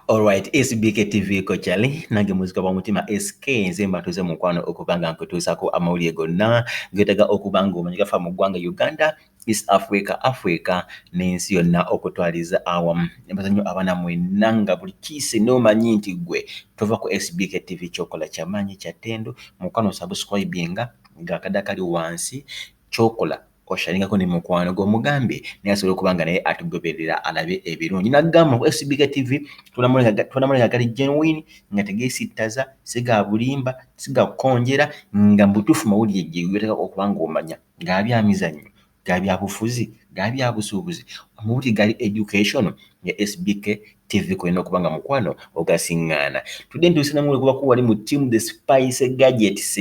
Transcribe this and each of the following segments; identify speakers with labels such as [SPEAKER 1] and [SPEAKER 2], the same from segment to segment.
[SPEAKER 1] Alright, SBK TV ko chali nange muzika wa mutima SK nze mbatuze mukwano okubanga nkutuusako amawulire gonna getaga okubanga omanyika fa mu ggwanga Uganda East Africa, Africa n'ensi yonna okutwaliza awamu. Nebaza nnyo abaana mwenna nga buli kiise n'omanyi nti gwe tova ku SBK TV kyokola kyamaanyi kyattendo mukwano osubscribinga nga akade akali wansi kyokola osharingako ne mukwano gwo omugambe naye asobola okuba nga naye atugoberera alabe ebirungi nagamba ku SBK TV tulamula nga gali genuine nga tegesittaza siga bulimba siga kukonjera nga mubutuufu mawulire gyegateka okuba nga omanya. ga bya mizannyo, ga bya bufuzi, ga bya busuubuzi, omu buti gali education ne SBK TV kw'olina okuba nga mukwano ogasing'aana. Tudde ntuuse na muli kubako wali mu team the spice gadgets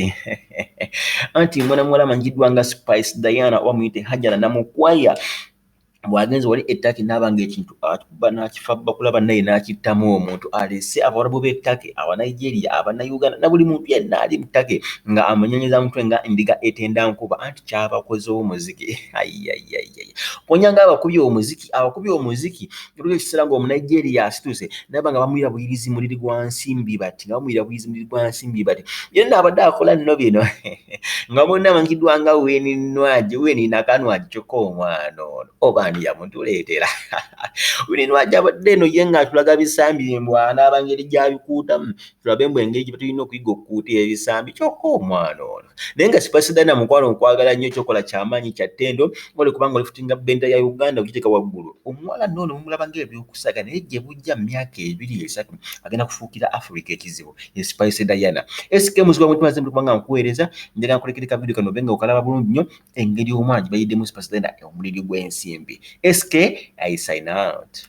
[SPEAKER 1] anti mwana muwala amanyikiddwa nga Spice Diana oba muyite Hajara Namukwaya bwagenze wali etake nabanga ekintu akuba nakifabba kulaba naye nakittamu omuntu alese abawarabu betake abanigeria abanauganda nabuli muntu yenna ali mutake nga amunyonyeza mutwe nga ndiga etenda nkuba anti kyabakoze omuziki ayayayay konya nga abakubi omuziki abakubi omuziki ebiga ekisera nga omunigeria asituse naba nga bamuyira buyirizi muliri gwansimbi bati nga bamuyira buyirizi muliri gwansimbi bati yenna abadde akola nno bino nga bonna bamanyikiddwa nga wininwaji wininakanwaji kyokka omwana ono oba ani yamutuleetera wininwaji abadde eno ye nga atulaga bisambi byembwanaaba ngeri gyabikuutamu tulabe mbu engeri gyebetulina okuyiga okukuuta ebisambi kyokka omwana ono naye nga sipasidana mukwano okwagala nnyo kyokola kyamaanyi kyattendo oli kubanga olifutinga bendera ya uganda okiteeka waggulu omuwala noono mumulaba ngaebyokusaga naye gyebujja mu myaka ebiri esatu agenda kufuukira africa ekizibu ye Spice Diana. SK muzwa mwe twaze mukwa nga nkuwereza ndira nkulekere ka video kano benga okalaba bulungi nnyo engeri omwanji bayidde mu Spice Diana e omuliri gw'ensimbi. SK I sign out.